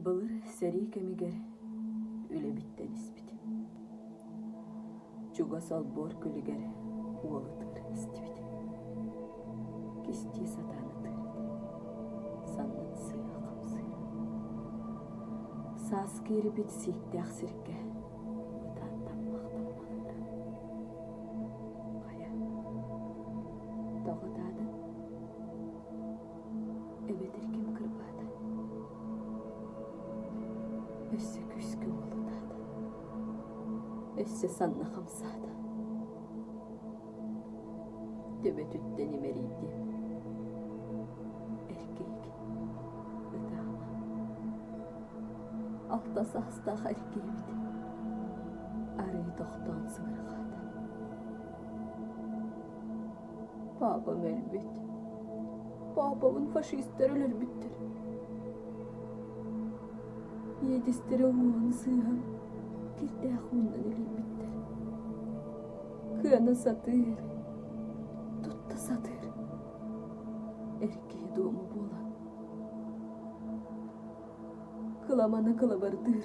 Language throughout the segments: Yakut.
Былыр сэрии кэмигэр үлэбиттэн испит, чугас олбуор күлүгэр уол ытыыр истибит, кистии сатаан ытыыр этэ, саннын сыыһа хамсыыра. Саас киирбит сииктээх сиргэ ытаан таммах-таммахтара. Хайа, тоҕо даадын? эбэтэр ким кырбаата өссө күүскэ уолутаата өссө санна хамсаата төбөтүттэн имэрийдим эр киһи ытаала алта саастаах эр киһибит арыы тохтоон сыҥырҕаата Папам өлбүт. Папабын фашистар өлөрбүттэр. Иэдистэрэ уҥуоҕун сыыһан кирдээх ууннан илийбиттэр. Кыана сатыыр, тутта сатыыр. Эркий дуому буолан. Кыламана кылабардыыр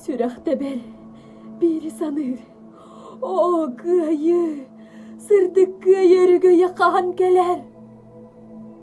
Сүрэх тэбэр, биири саныыр. Оо, кыайыы, сырдык кыайыы өрүгөйэ хаһан кэлэр